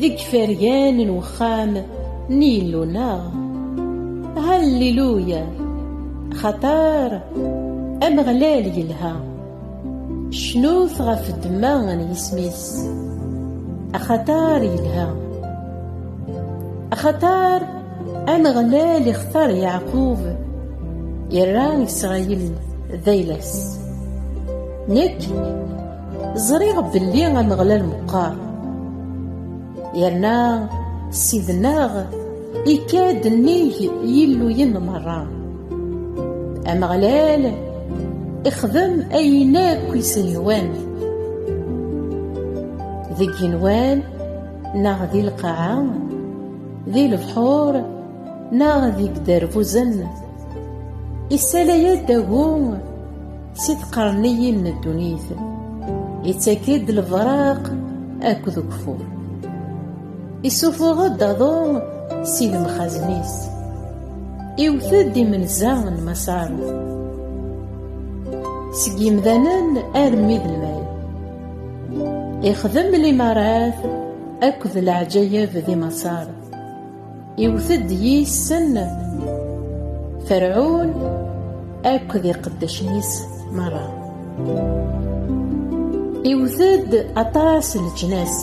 Deg fergan n wexxam n Yillu-nneɣ. Halliluya! Xaṭer Ameɣlal yelha. Cnut ɣef ddemma n yisem-is. Axaṭer yelha. Axaṭer Ameɣlal ixtar Yeɛqub, irra Isṛayil d ayla-s. Nekk ẓriɣ belli ameɣlal meqqar yerna sidnaɣ ikad nnig yilluyen merra ameɣlal ixdem ayen akk isehwan deg yenwan neɣ di lqaɛa di lebḥur neɣ deg derbuzen isala-yad agum Si tqerniyin n ddunit, ittak-id lebraq akked ukfur. Isufuɣ-d aḍu si lemxazen-is, iwet-d imenza n Maṣaṛuf. Seg yimdanen armi d lmal, ixdem limaṛat akked leɛǧayeb di Maṣaṛ. Iwet-d yis-sen Ferɛun akked iqeddacen-is merra. Iwet-d aṭas n leǧnas,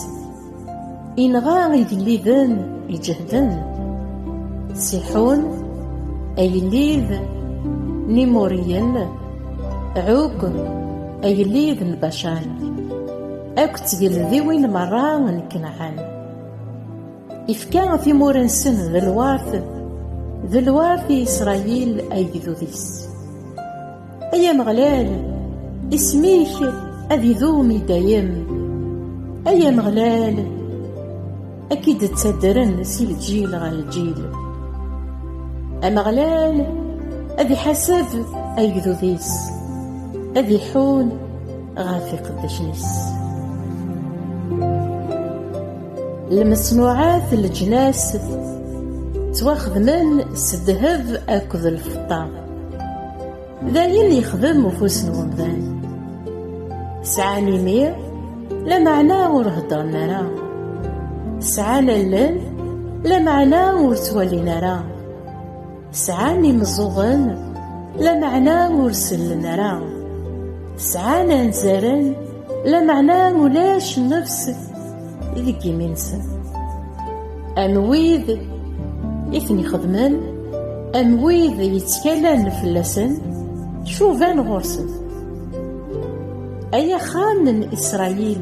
inɣa igelliden iǧehden, Siḥun, agellid n Imuriyen, Ɛug, agellid n Bacan, akked tgeldiwin merra n Kanɛan. Ifka timur-nsen d lwart, d lwart i Isṛayil agdud-is. Ay Ameɣlal, isem-ik ad idum i dayem. Ay Ameɣlal, ad k-id-ttaddren si lǧil ɣer lǧil. Ameɣlal ad iḥaseb agdud-is, ad iḥun ɣef iqeddacen-is. Lmesnuɛat n leǧnas ttwaxedmen s ddheb akked lfeṭṭa. D ayen yexdem ufus n umdan. Sɛan imi, lameɛna ur heddren ara. Sɛan allen, lameɛna ur ttwalin ara. Sɛan imeẓẓuɣen lameɛna ur sellen ara. Sɛan anzaren lameɛna ulac nnefs i deg imi-nsen. Am wid i ten-ixedmen, am wid yettkalan fell-asen, cuban ɣur-sen. Ay axxam n Isṛayil!